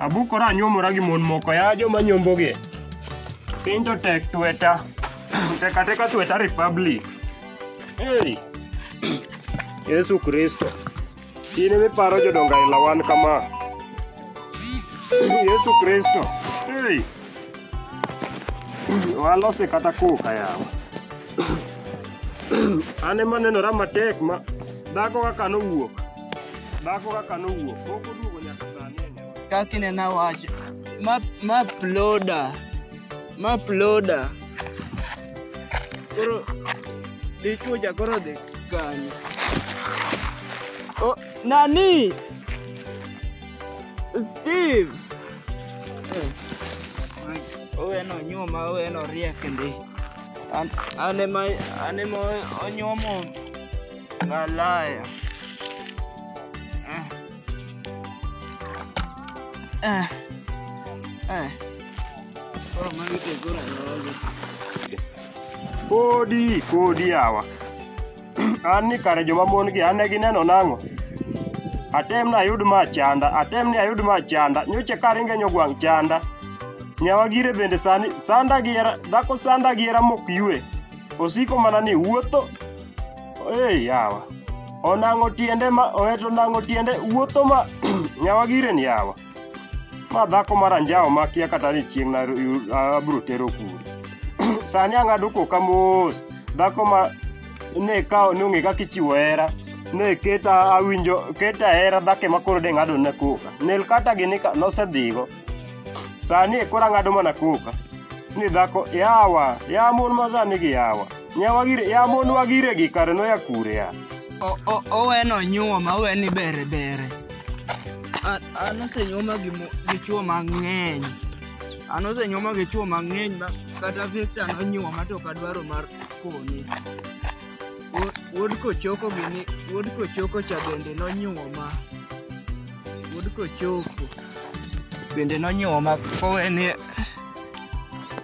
Abukora anyuomora gi mon moko ya joma nyombogi. Piny to tek tweta. Teka teka tweta republic. Hey. Yesu Kristo. In ema iparo jodongo aila wan kama. Yesu Kristo. Hey. Walose kata kuka yawa. An ema nenora matek ma dhako kaka nowuok. Dhako kaka nowuok, pok oduogo nyaka sani e nyama. kaka inena wacho ma ma ploda ma ploda koro dichwo cha koro dhi kanye oh, nani steve Eh, oweno nyuma oweno riek ndi An- an ema an ema onyuomo Malaya. Eh. Eh. Eh. Koro magi to koro rogo. Kodi, kodi yawa. An ni kare joma mon gi an ne gineno nang'o? Atem ni ayud ma chanda, atem ni ayud ma chanda, nyocha ka ringe nyogwang' chanda. Nyawa gire bende sani, sanda gi hera, dhako sanda gi hera mok yue. osiko mana ni wuotho ei yawa onang'o tiende ma oheto nang'o tiende wuotho ma nyawa giren yawa ma dhako mar anjawo makia kata ni chieng' abiro tero kuro sani ang'ado koka mos dhako ma ne kawo ne ong'e kaka ichiwo hera ne keta awinjo keta hera dhake ma koro de ng'ado ne koka nel kata gini ka nosedhigo Sani koro ang'ado mana koka ni dhako yawa ya mon ma sani gi yawa nyawa gire ya mon wa gire gi kare no ya kure ya O- o- oweno nyuoma oweni bere bere An- an osenyuoma gi mo- gi chuo mang'eny an osenyuoma gi chuo mang'eny ma kata victor nonyuoma to kadwaro mar kone Wuod kochoko gini, wuod kochoko cha bende nonyuoma. Wuod kochoko bende nonyuoma koweni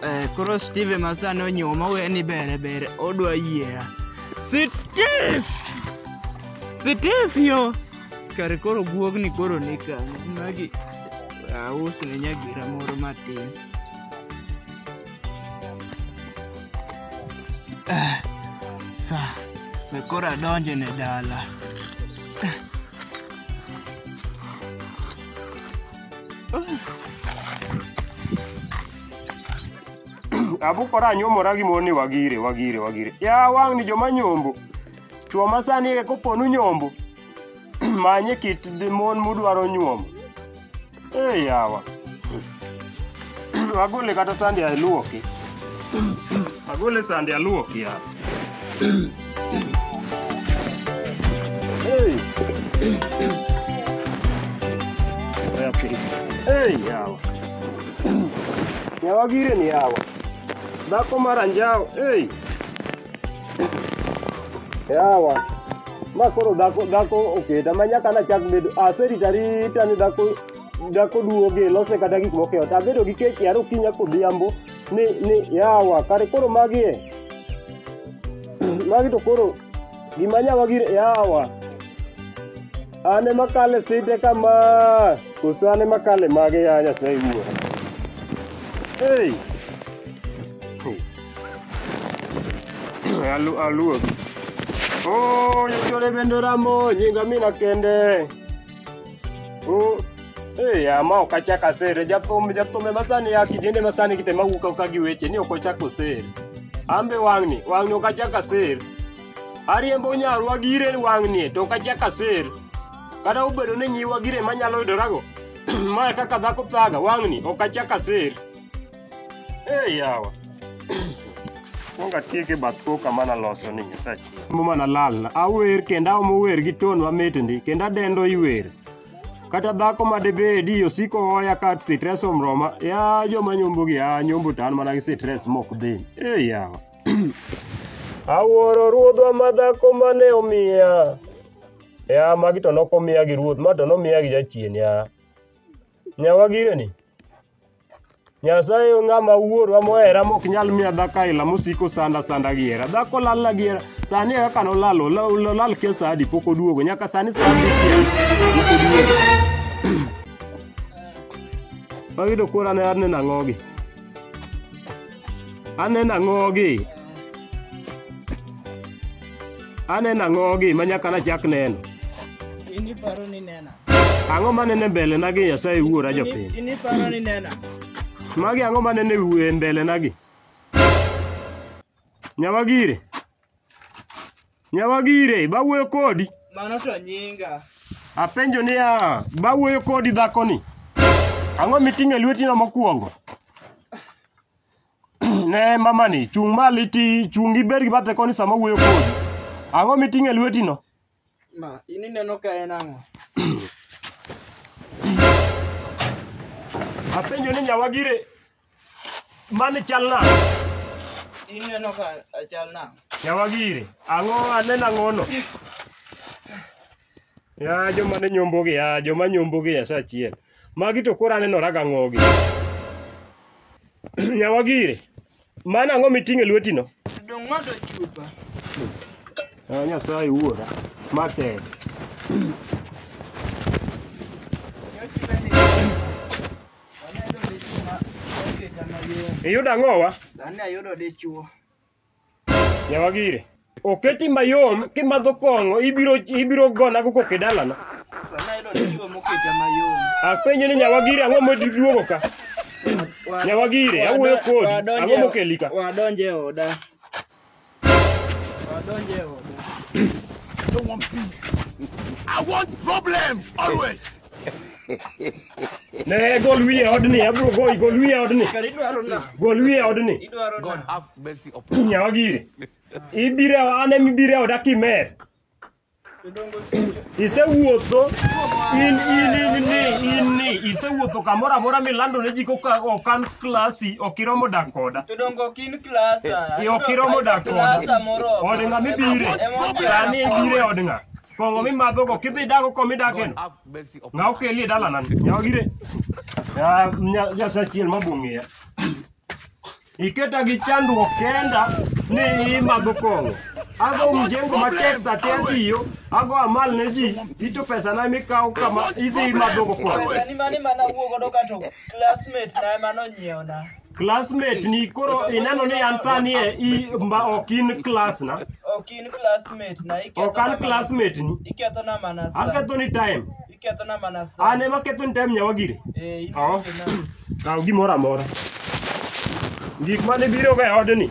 eh, koro Steve masani onyuoma oweni bere bere odwa yiera. Steve! Steve yo! Kar koro guogni koro ni kanyo. Magi ausne nyagira moro matin. Eh, sa be koro adonjo ne dala Eh. abukora anyomora gi mon ni wagire wagire wagire ya wang' ni joma nyombo chwo ma sani e koponu nyombo manye kit mon mudwaro nyuomo e yawa agole kata sande aluoki agole sande aluoki ya Hey. Okay. Hey, yawa. Yawa gire ni yawa. Dhako mar anjawo. Hey. yawa ma koro dhako dhako oketa ma nyaka nachak bedo aserita rita ni dhako dhako duoge lose kata gik moko eot abedo gi kech yaro kinya kodhiambo ni ni yawa kare koro magi e magi to koro gima nyawa gir yawa an ema kale site kama koso an ema kale mage ya nyasaye wuora hey. Alu, aluo. Oh, nyakore bende ramo nyinga mina kende. Oh, eh, ya ma ok achak asere. Jathum, jathum ema sani ya kijende ma sani kite mawuok auka gi weche ni ok ochak osere. Ambe wang'ni, wang'ni ok achak asere. Ariembo nyarwa gire wang'ni to ok achak asere. Kata obedo ni nyiwa gire manyalo yudorago. ma kaka dhako thaga wang'ni ok achak asere. Hey, yawa. Kwongo atiek e bath koka mana loso ni Nyasaye. Mo mana lalna. Awer kendo aomo wer gi ton mamit ndi kendo adendo iwer. Kata dhako ma debedi osiko hoya ka stress omroma. Ya joma nyombo gi ya nyombo tan mana gi stress mok dhi. Hey, yawa. Awuoro ruodhwa ma dhako mane omiya. Ya magi to nokomiya gi ruoth, ma to nomiya gi jachien ya. Nyawagireni. Nyasaye onge ng'ama wuorwa mohera mok nyal miya dhako aila mosiko sanda sanda gi hera. Dhako lalna gi hera. Sani kaka nolal, ola- ola- olal kia sa adi pok oduogo. Nyaka sani sa adi kia pok oduogo. Wayudo koro ane ane nang'ogi. Ane nang'ogi. Ane nang'ogi ma nyaka nachak neno. In iparo ni nena. Ang'o ma nene mbele na gi Nyasaye wuora jopiny? Ini paro ni nena. Magi ang'o ma nene wuoye mbele na gi? Nyawagire. Nyawagire, bawuoyo kodi. Mano to nyinga. Apenjo niya, bawuoyo kodi dhakoni. Ang'o miting'o e lwetino mokwongo? ne mamani, chung' malo iti, chung' ibed gi bathe koni sama wuoyo kodi. Ang'o miting'o e lwetino? Ma, in ineno ka en ang'o? Apenjo ni nyawagire mani chal nade? In ineno ka achal nang'o? Nyawagire, ang'o aneno ang'ono? Ya joma ne nyombogi, ya joma nyombogi ya saa achiel. Magi to koro aneno raga ng'ogi. Nyawagire, Mano ang'o miting'o e lwetino? Dong' madho chupa. Ah, Nyasaye wuora. Ma tek. Iyudo ang'owa? Sani ayudo dichuo. Nyawagire. Oketi mayom kimadho kong'o ibiro ibiro gona go kok e dalana. Wanayudo ni gigo moketa mayom. Apenjo ni nyawagiri ang'o moduogo ka? Wa- Nyawagiri, wado- awuoyo kodi. wadonje- Ang'o mokeli ka? Wadonje e oda. Wadonje e oda. I don't want peace. I want problems always. Ne gol wiye odni, abro goyi, gol wiye odni. Gol wiye odni. God have mercy upon us. Nyawa gire. Ibire ane mibire oda kimer. Isewuotho in in in ni in ni isewuotho kamoro amora milando ne ji koka okan klasi ok iromo dak koda. Tudongo kin klasa. Iyo kiromo dak koda. Klasa moro. Od ng'a mibire? Sani ibire od ng'a? Kong'o mimadhogo kidhi dago koma idakeno. Have mercy upon Ng'a okeli e dalana ni. Ng'a ogire. Ya nya- Nyasaye achiel ma bong'eya. Iketa gi chandruok kenda ni imadho kong'o. Ago mjengo matek sa te atiyo, ago amal ne ji, ito pesana mikawo kama idhi imadhogo kong'o. Pesa ni mane mana wuogo do kato classmate na ema nonyiewo na. classmate ni koro ineno ni an sani e i mba ok in class na Ok in classmate na iketho ok an na mana- classmate ni Iketho na mana sa. aketho ni time Iketho na mana sa. an ema ketho ni time nyawagire Eh, in Oh. na. kaw gimoro amora gik mane biroga e odni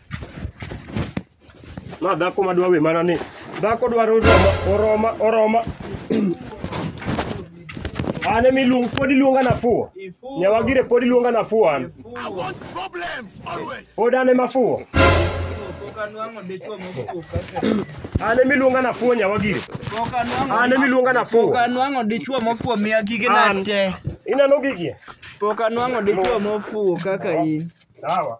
Ma dhako ma dwa we mana ni. Dhako dwaro roma, oroma, oroma. An emi luong, pod iluonga nafuwo. Nyawagire pod iluonga nafuwo an. Pod an ema fuwo. An emi luonga nafuwo nyawagire. An emi luonga nafuwo. Pok anwang'o dichwo mofuwo miya gige An. na te. Ineno gigie? Pok anwang'o dichwo mofuwo kaka in. Sawa.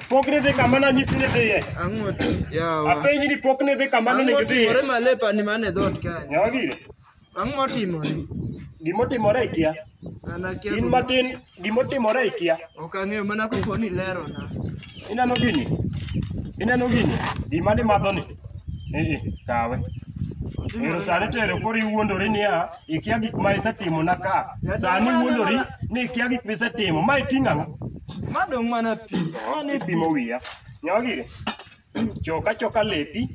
Pok ne dhi kama nanyisi ni dhiye. Ang'o to? Yawa. Apenji ni pok ne dhi kama ne Ang'o onego dhiye. timore malepa ni mane dhoot kanyo? Nyawa gire. Ang'o timore? Gimotimore ikia. An akia In gima- matin gimotimore ikia. Ok ang'eyo mana kopo ni lero na. Ineno gini? Ineno gini? Gima ni madho ni. Eh eh, kawe. Otimore Ero sani nade? tero koro iwuondori niya, ikia gik ma isetimona ka sani wuondori ni ikia gik ma isetimo ma iting'o ang'o Ma dong' mana pi. Mano e pi. ipimo wiya nyawagire choka choka lepi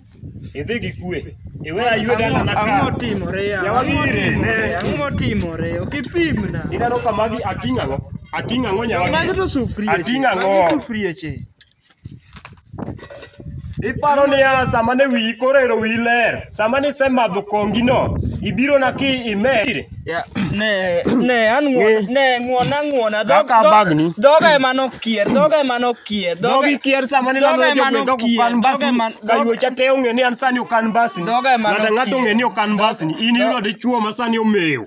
idhi gi kwe iwe aywe dalana Ang'o- Ang'o ka timore ya? Ang'o Nyawagire, timore? ne. Ang'o timore? Ok ipimna. ineno ka magi ating'o ang'o ating'o ang'o Magi nyawagire to sufrieche. Ating'o ang'o? Magi sufrieche. Iparo niya sama ne wiyi koro ero wiyi ler. Sama nisemadho kongino, ibiro na ki imer. Ya, ne ne an ng'won Ng'e. ne ng'wona ng'wona dhog- Kaka dhog- bagni. dhoga ema nokier dhoga ema nokier Dhogi kier sama ne dhoga lando ema jogweng' kaka nokier, okan dhoga ema- mbasni. dhoga- Kayuocha te ong'e ni an sani okan mbasni. Dhoga ema Ng'ato ang'ato nokier. ong'e ni okan mbasni. In Dho- iyudo dichwo ma sani omewo.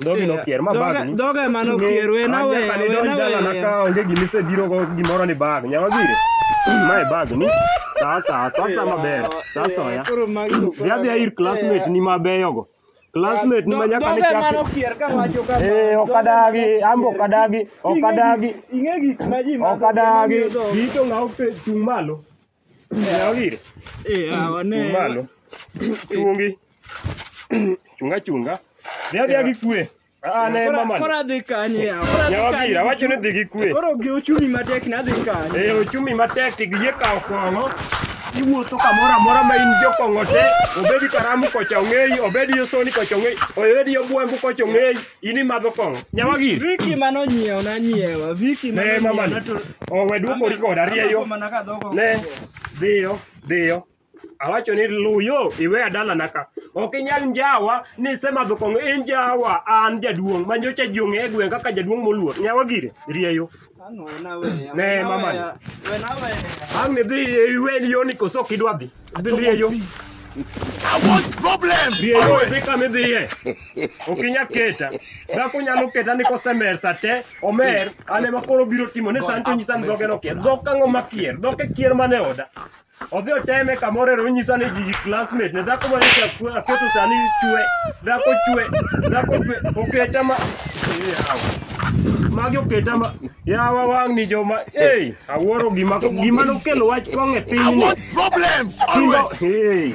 Dhogi nokier ma Dhoga- bag ni. dhoga ema nokier, we na we, Nyaka ne we donj na dala we. na ka onge gima isebiro go gimoro ni bag. Nyawa gire. Mae bag ni. Sasa sasa maber. Sasa ya. Koro magi to Dhi adhiya ir classmate ni mabeyo go. Classmate ni ma nyaka ne Dhoga ema chak. nokier ka wacho kama. Eh, ok adagi, ambo ok adagi, ok adagi. Ing'e gik ma ji madho, Ok adagi. gima miyo dhoga. Gito ng'aw pe- chung' malo. Yaw gire. Eh, awa ne. Chung' malo. Chungi. Chunga chunga. Dhi adhiya gi kwe. Ah, ne Kora- mama. Kora dhi kanye yawa. Kora dhi Yawa kanye. gira, wacho ni dhi gi kwe. Koro gi ochumi matek nadhi kanye. E ochumi matek to giyie kawo kong'o. Iwuotho kamoro amora ma in jokong'o te, obedi karamu kocha ong'eyi, obedi yosoni kocha ong'eyi, obedi yobwembu kocha ong'eyi. In imadho kong'o. Nyawagi. Viki mane onyiewo na nyiewa. Viki mane Ne mama ni. onyiewo na Owe duokori koda rieyo. Amako mana ka dhok ok Ne. Dhiyo. Dhiyo. Awacho ni luyo iwe adala naka. Ok inyal njawa ni isemadho kong'o. Injawa an jaduong' manyocha jiong'e e gweng' kaka jaduong' moluor. Nyawagire. Rieyo. Ang' we naweya. Ne, we mama. naweya, We naweya. Ang' ni dhi e iwe ni yoni koso ok idwa dhi. Dhi dhi e yo. I want problems. Dhi e yo dhi kama idhiye. Ok inya keta. Dhako nyalo keta ni kosemer sa te, omer, an ema koro biro timo ni sani to nyisa ni dhoge nokier. Dhok ang'o makier? Dhok e kier mane oda. Odhi oteme kamoro ero onyisa ni ji classmate ne dhako mane chafue aketo sani chwe. Dhako chwe. Dhako chwe. Oketa ma. Yawa. Magi oketa ma. Yawa wang' ni joma. Hey, awuoro gima gima nokelo wach kong'e piny ni. Problems Simba. Hey.